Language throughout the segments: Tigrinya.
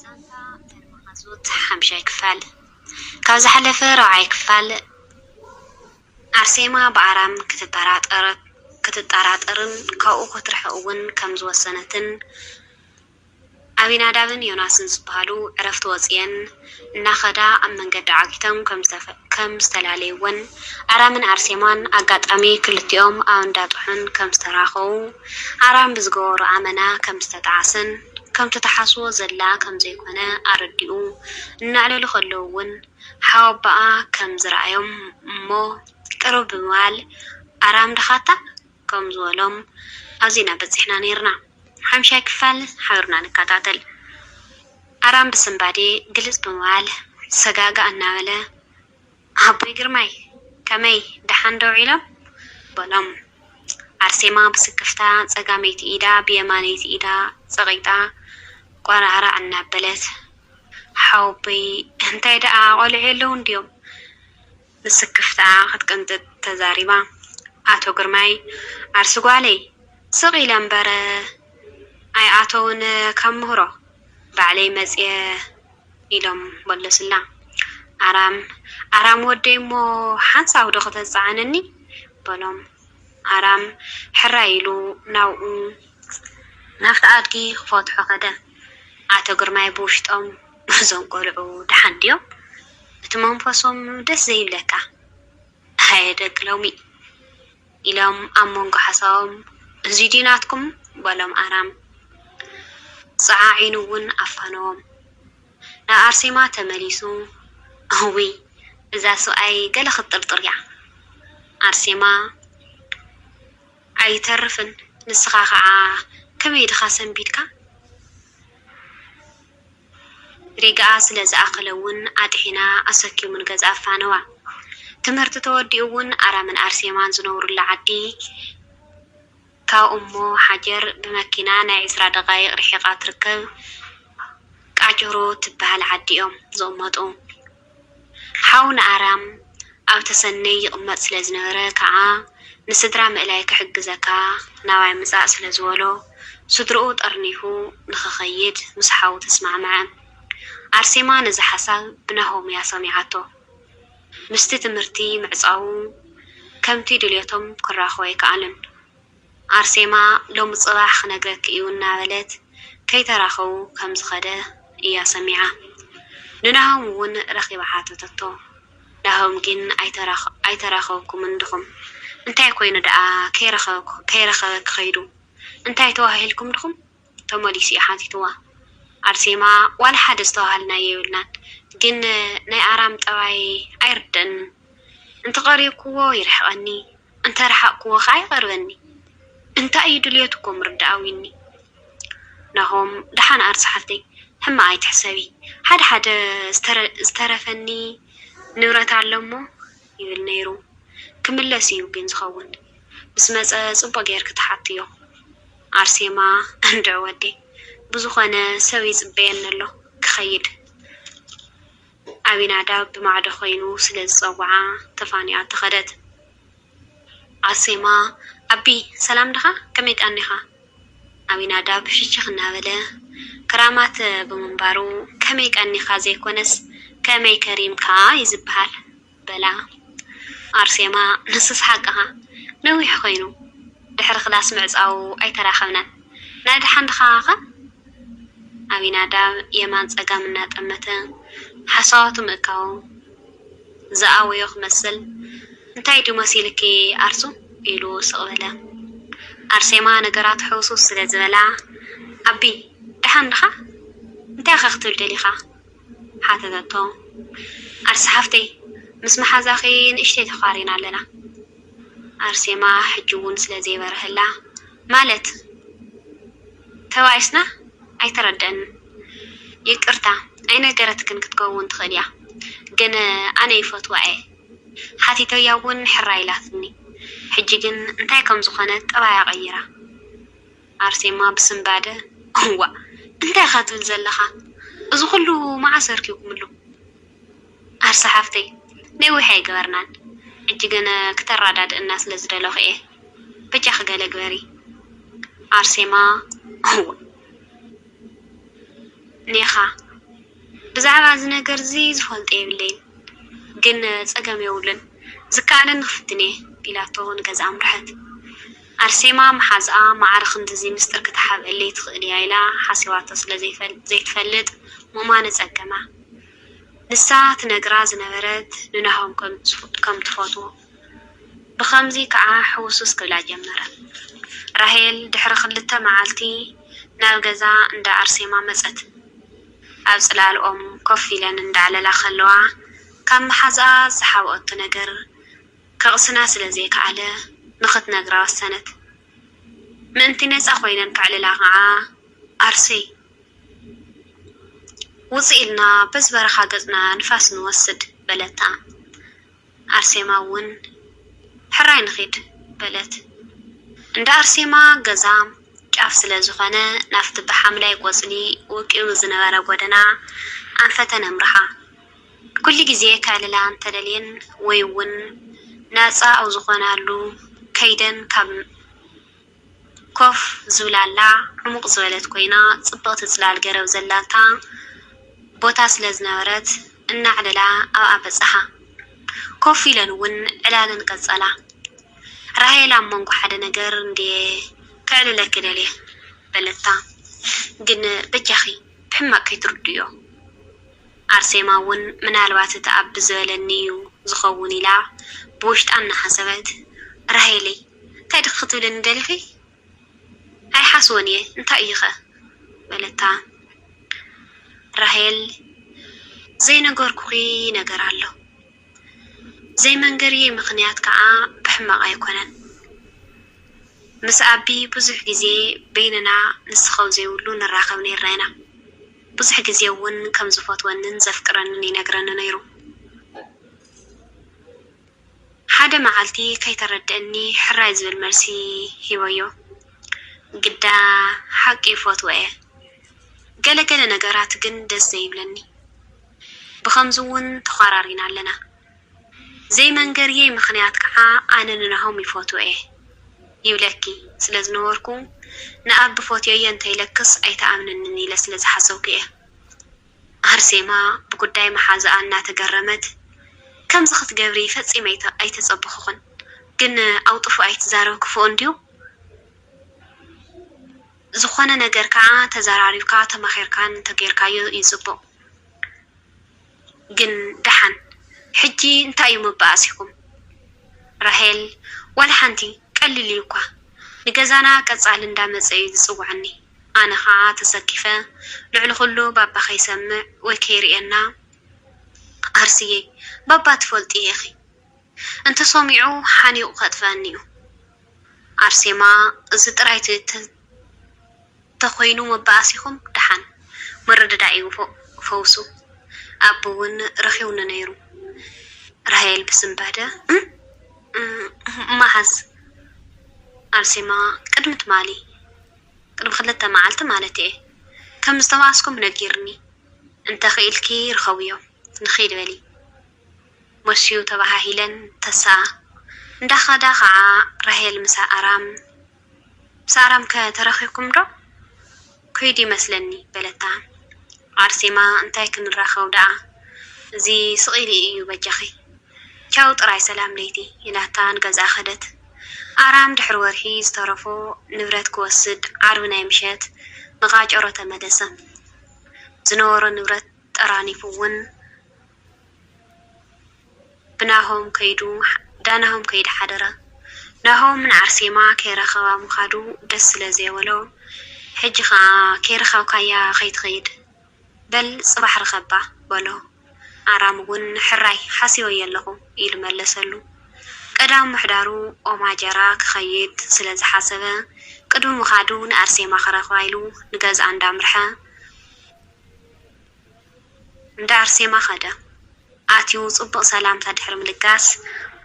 ዛንታ ተርማሃዞት ሓምሻይ ክፋል። ካብ ዝሓለፈ ራብዓይ ክፋል ኣርሴማ ብኣራም ክትጠራጠርን ካብኡ ክትርሕቕ'ውን ከም ዝወሰነትን ኣቢናዳብን ዮናስን ዝበሃሉ ዕረፍቲ ወጺኤን፣ እናኸዳ ኣብ መንገዲ ዓጊቶም ከም ዝተላለዩወን፣ ኣራምን ኣርሴማን ኣጋጣሚ ክልቲኦም ኣብ እንዳ ጥሑን ከም ዝተራኸቡ፣ ኣራም ብዝገበሮ ኣመና ከም ዝተጠዓሰን ከምቲ ትሓስቦ ዘላ ከም ዘይኮነ ኣረዲኡ እናዕለሉ ከለዉ'ውን ሓወቦኣ ከም ዝረኣዮም እሞ ቅርብ ብምባል ኣራም ድኻታ? ከም ዝበሎም ኣዚና በጺሕና ኔርና ሓምሻይ ክፋል ሓብርና ንካታተል ኣራም ብስንባዴ ግልጽ ብምባል ሰጋእጋእ እናበለ ኣቦይ ግርማይ ከመይ ደሓን ዶ ዊዒሎም በሎም ኣርሴማ ብስክፍታ ጸጋመይቲ ኢዳ ብየማነይቲ ኢዳ ጸቒጣ ቋራዕራዕ እናበለት ሓወቦይ እንታይ ደኣ ቆልዑ የለውን ድዮም ብስክፍታ ክትቅንጥጥ ተዛሪባ። ኣቶ ግርማይ፣ ዓርሲ ጓለይ ስቕ ኢለ እምበር ኣይኣተዉን ካብ ምህሮ ባዕለይ መጺኤ ኢሎም መለሱላ። ኣራም ኣራም ወደይ እሞ ሓንሳብዶ ክተጽዕነኒ? በሎም። ኣራም ሕራይ ኢሉ ናብኡ ናብቲ ኣድጊ ክፈትሖ ከደ። ኣቶ ግርማይ ብውሽጦም። ናይዞም ቆልዑ ደሓን ድዮም እቲ መንፈሶም ደስ ዘይብለካ ሃየ ደቂ ሎሚ ኢሎም ኣብ መንጎ ሓሳቦም እዙይ ድዩ ናትኩም በሎም ኣራም ጸዓዒኑ ውን ኣፋነዎም ናብ ኣርሴማ ተመሊሱ እውይ እዛ ሰብኣይ ገለ ክትጥርጥር እያ ኣርሴማ ኣይተርፍን ንስኻ ከዓ ከመይ ድኻ ሰንቢድካ። ሪጋኣ ስለ ዝኣኸለ ውን ኣጥሒና ኣሰክዩ ንገዝኣ ኣፋነዋ። ትምህርቲ ተወዲኡ ውን ኣራምን ኣርሴማን ዝነብሩላ ዓዲ ካብ እሞ ሓጀር ብመኪና ናይ ዕስራ ደቓይቕ ርሒቓ ትርከብ ቃጭሩ ትበሃል ዓዲ'ዮም ዝቕመጡ። ሓው ንኣርያም ኣብ ተሰነይ ይቕመጥ ስለ ዝነበረ ከኣ ንስድራ ምእላይ ክሕግዘካ ናባይ ምጻእ ስለ ዝበሎ ስድርኡ ጠርኒፉ ንኽኸይድ ምስ ሓው ተስማዕምዐ። ኣርሴማ ነዚ ሓሳብ ብናሆም'ያ ሰሚዓቶ። ምስቲ ትምህርቲ ምዕጻዉ ከምቲ ድልየቶም ክራኸቡ ኣይከኣሉን። ኣርሴማ ሎሚ ጽባሕ ክነግረኪ እዩ እናበለት ከይተራኸቡ ከም ዝኸደ እያ ሰሚዓ። ንናሆም እውን ረኺባ ሓተተቶ። ናሆም ግን ኣይተራኸብኩምን ድኹም? እንታይ ኮይኑ ደኣ ከይረኸበኪ ከይዱ? እንታይ ተዋሃሂልኩም ድኹም? ተመሊሱ እዩ ሓቲትዋ። ኣርሴማ ዋላ ሓደ ዝተባሃልናዮ የብልናን ግን ናይ ኣራም ጠባይ ኣይርደእንን እንተ ቀሪብክዎ ይርሕቀኒ እንተ ረሓቅክዎ ከኣ ይቀርበኒ እንታይ እዩ ድልየቱ እኮ ምርዳኣ ዊኒ። ናሆም ደሓን ኣር ዝሓፍተይ ሕማቅ ኣይትሕሰቢ ሓደ ሓደ ዝተረፈኒ ንብረት ኣሎ እሞ ይብል ነይሩ ክምለስ እዩ ግን ዝከውን። ምስ መጸ ጽቡቅ ጌርኪ ትሓትዮ። ኣርሴማ እንድዒ ወዲ ብዝኮነ ሰብ ይጽበየኒ ኣሎ ክከይድ ኣቢናዳብ ብማዕዶ ኮይኑ ስለ ዝጸውዓ ተፋኒኣ ተከደት። ኣርሴማ ኣቢ ሰላም ድካ ከመይ ቀኒካ። ኣቢናዳብ ሽችክ እናበለ ክራማት ብምንባሩ ከመይ ቀኒካ ዘይኮነስ ከመይ ከሪምካ እዩ ዝብሃል። በላ ኣርሴማ ንሱስ ሓቅኻ ነዊሕ ኮይኑ ድሕሪ ክላስ ምዕጻዉ ኣይተራኸብናን ናይ ደሓን ድኻኸ ኣቢናዳብ የማን ጸጋም እናጠመተ ሓሳባቱ ምእካቡ ዝኣወዮ ክመስል እንታይ ድዩ መሲሉኪ ኣርሱ ኢሉ ስቕ በለ ኣርሴማ ነገራቱ ሕውስውስ ስለ ዝበላ ኣቢ ደሓን ድኻ እንታይኸ ክትብል ደሊኻ ሓተተቶ። ኣርሲ ሓፍተይ፣ ምስ መሓዛኺ ንእሽተይ ተዃሪና ኣለና። ኣርሴማ ሕጂ'ውን ስለ ዘይበረሀላ፣ ማለት? ተባኢስና? ኣይተረድኣንን። ይቅርታ፣ ኣይነገረትክን ክትከውን ትኽእል እያ፣ ግን ኣነ ይፈትዋ'የ። ሓቲተያ'ውን ሕራይ ኢላትኒ። ሕጂ ግን እንታይ ከም ዝኾነት ጠባያ ቀይራ። ኣርሴማ ብስንባደ፣ እዋእ እንታይ ኢኻ ትብል ዘለኻ? እዚ ኹሉ መዓስ ኣርኪብኩምሉ? ኣርሰ ሓፍተይ፣ ነዊሕ ኣይገበርናን፣ ሕጂ ግን ክተራዳድእና ስለ ዝደለኹ እየ፣ በጃኺ ገለ ግበሪ። ኣርሴማ፣ እዋእ ኔኻ፣ ብዛዕባ እዚ ነገር እዚ ዝፈልጦ የብለይን፣ ግን ጸገም የብሉን፣ ዝከኣለኒ ክፍትን እየ፣ ኢላቶ ንገዝኣ ኣምርሐት። ኣርሴማ መሓዝኣ ማዕረ ክንድዚ ምስጢር ክትሓብኣለይ ትኽእል እያ ኢላ ሓሲባቶ ስለ ዘይትፈልጥ ምእማን ኣጸገማ። ንሳ ትነግራ ዝነበረት ንናሆም ከም ትፈትዎ። ብኸምዚ ከኣ ሕውስውስ ክብላ ጀመረ። ራሄል ድሕሪ ክልተ መዓልቲ ናብ ገዛ እንዳ ኣርሴማ መጸት። ኣብ ጽላል ኦም ኮፍ ኢለን እንዳዕለላ ከለዋ ካብ መሓዝኣ ዝሓብኣቶ ነገር ከቕስና ስለ ዘይከኣለ ንኽትነግራ ወሰነት። ምእንቲ ነጻ ኮይነን ከዕልላ ከኣ ኣርሰይ! ውጽእ ኢልና በዚ በረኻ ገጽና ንፋስ ንወስድ፣ በለታ። ኣርሴማ'ውን ሕራይ ንኺድ፣ በለት። እንዳ ኣርሴማ ገዛ ጫፍ ስለ ዝኾነ ናብቲ ብሓምላይ ቆጽሊ ወቂቡ ዝነበረ ጎደና ኣንፈተን ኣምርሓ። ኩሉ ግዜ ከዕልላ እንተደልየን ወይ'ውን ናጻ ኣብ ዝኾናሉ ከይደን ካብ ኮፍ ዝብላላ ዕሙቕ ዝበለት ኮይና ጽብቕቲ ጽላል ገረብ ዘላታ ቦታ ስለ ዝነበረት እናዕለላ ኣብኣ በጻሓ። ኮፍ ኢለን'ውን ዕላለን ቀጸላ። ራሄል ኣብ መንጎ ሓደ ነገር እንድየ ከዕልለኪ ደልየ በለታ። ግን በጃኺ ብሕማቕ ከይትርድእዮ። ኣርሴማ እውን ምናልባት እቲ ኣቢ ዝበለኒ እዩ ዝኸውን ኢላ ብውሽጣ እናሓሰበት፣ ራሄለይ እንታይ ድኺ ክትብልኒ ደሊኺ? ኣይሓስቦን እየ እንታይ እዩኸ? በለታ። ራሄል፣ ዘይነገርኩኺ ነገር ኣሎ። ዘይመንገርየይ ምኽንያት ከዓ ብሕማቕ ኣይኮነን። ምስ ኣቢ ብዙሕ ግዜ በይንና ንስኻው ዘይብሉ ንራኸብ ነይርና ኢና። ብዙሕ ግዜ እውን ከም ዝፈትወንን ዘፍቅረንን ይነግረኒ ነይሩ። ሓደ መዓልቲ ከይተረድኣኒ ሕራይ ዝብል መልሲ ሂበዮ። ግዳ ሓቂ ይፈትዎ እየ። ገለ ገለ ነገራት ግን ደስ ዘይብለኒ። ብኸምዚ እውን ተዃራሪና ኣለና። ዘይመንገርየይ ምኽንያት ከዓ ኣነ ንናሆም ይፎትዎ'የ ይብለኪ ስለ ዝነበርኩ ንኣቢ ፎትዮዮ እንተይለክስ ኣይትኣምነንን ኢለ ስለ ዝሓሰብኩ'የ። ኣርሴማ ብጉዳይ መሓዝኣ እናተገረመት ከምዚ ክትገብሪ ፈፂመ ኣይተፀበኹኽን ግን ኣውጥፉ ኣይትዛረብ ክፉእ እንድዩ ዝኾነ ነገር ከዓ ተዘራሪብካ ተማኺርካን እንተገይርካዮ እዩ ፅቡቕ። ግን ደሓን ሕጂ እንታይ እዩ መባኣሲኩም ራሄል ዋላ ሓንቲ ቀሊል እዩ እኳ ንገዛና ቀጻሊ እንዳ መጸ እዩ ዝጽውዓኒ ኣነ ከኣ ተሰኪፈ ልዕሊ ኩሉ ባባ ከይሰምዕ ወይ ከይርእየና ኣርስየይ ባባ ትፈልጥዮ ኢኪ እንተሰሚዑ ሓኒቑ ከጥፍኣኒ'ዩ። ኣርሴማ እዚ ጥራይ ተኾይኑ መባኣሲኹም ደሓን። ምርድዳእ'ዩ ፈውሱ። ኣቢ ውን ረኺቡኒ ነይሩ። ራሄል ብስንባደ እም መዓስ? ኣርሴማ ቅድሚ ትማሊ ቅድሚ ክልተ መዓልቲ ማለት'የ። ከም ዝተባኣስኩም ነጊሩኒ። እንተኽኢልኪ ርኸብዮ ንኺድ በሊ። ሞስዩ ተባሃሂለን ተስኣ እንዳኸዳ ኸኣ ራሄል ምስ ኣራም ምስ ኣራምከ ተራኺኩም ዶ ከይዱ ይመስለኒ በለታ ኣርሴማ እንታይ ክንራኸው ደኣ እዚ ስቂሉ ኢዩ በጃኺ ቻው ጥራይ ሰላም ለይቲ ኢላታ ንገዝኣ ከደት ኣራም ድሕሪ ወርሒ ዝተረፎ ንብረት ክወስድ ዓርቢ ናይ ምሸት ንቃጨሮ ተመለሰ ዝነበሮ ንብረት ጠራኒፉ ውን ብናሆም ከይዱ ዳናሆም ከይድ ሓደራ ናሆም ንዓርሴማ ከይረከባ ምካዱ ደስ ስለ ዘይበሎ ሕጂ ከኣ ከይረከብካያ ከይትከይድ በል ጽባሕ ርከባ በሎ ኣራም ውን ሕራይ ሓሲበዮ ኣለኩ ኢሉ መለሰሉ ቀዳም ምሕዳሩ ኦማጀራ ክከይድ ስለ ዝሓሰበ ቅድሚ ምካዱ ንኣርሴማ ክረክባ ኢሉ ንገዝኣ እንዳምርሐ እንዳ ኣርሴማ ከደ። ኣትዩ ጽቡቕ ሰላምታ ድሕሪ ምልጋስ፣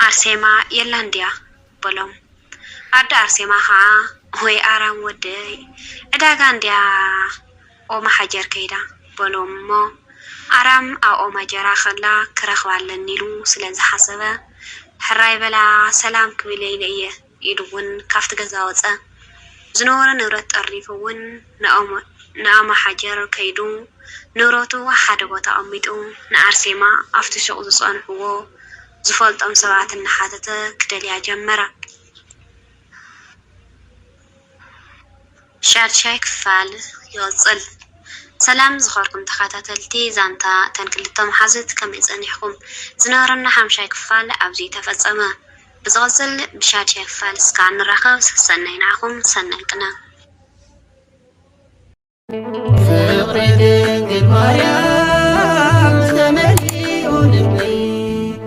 ኣርሴማ የላን ድያ? በሎም። ኣደ ኣርሴማ ከኣ፣ ወይ ኣራም ወደይ፣ ዕዳጋ እንድያ ኦማሓጀር ከይዳ፣ በሎም እሞ፣ ኣራም ኣብ ኦማጀራ ከላ ክረኽባ ኣለኒ ኢሉ ስለ ዝሓሰበ፣ ሕራይ በላ ሰላም ክብል ኢለ እየ፣ ኢሉ እውን ካብቲ ገዛ ወፀ። ዝነበሮ ንብረት ጠርኒፉ እውን ንኣማሓጀር ከይዱ ንብረቱ ሓደ ቦታ ኣቐሚጡ ንኣርሴማ ኣብቲ ሹቕ ዝፀንሑዎ ዝፈልጦም ሰባት እናሓተተ ክደልያ ጀመረ። ሻድሻይ ክፋል ይቕጽል። ሰላም ዝኸርኩም ተኻታተልቲ ዛንታ እተን ክልተ መሓዙት ከመይ ጸኒሕኩም። ዝነበረና ሓምሻይ ክፋል ኣብዙይ ተፈጸመ። ብዝቕጽል ብሻድሻይ ክፋል እስካዕ ንራኸብ ሰሰናዩ ንዓኹም ሰናይ ቅነ። ፍቕሪ ድንግል ማርያም ዝተመልኡ ልቢ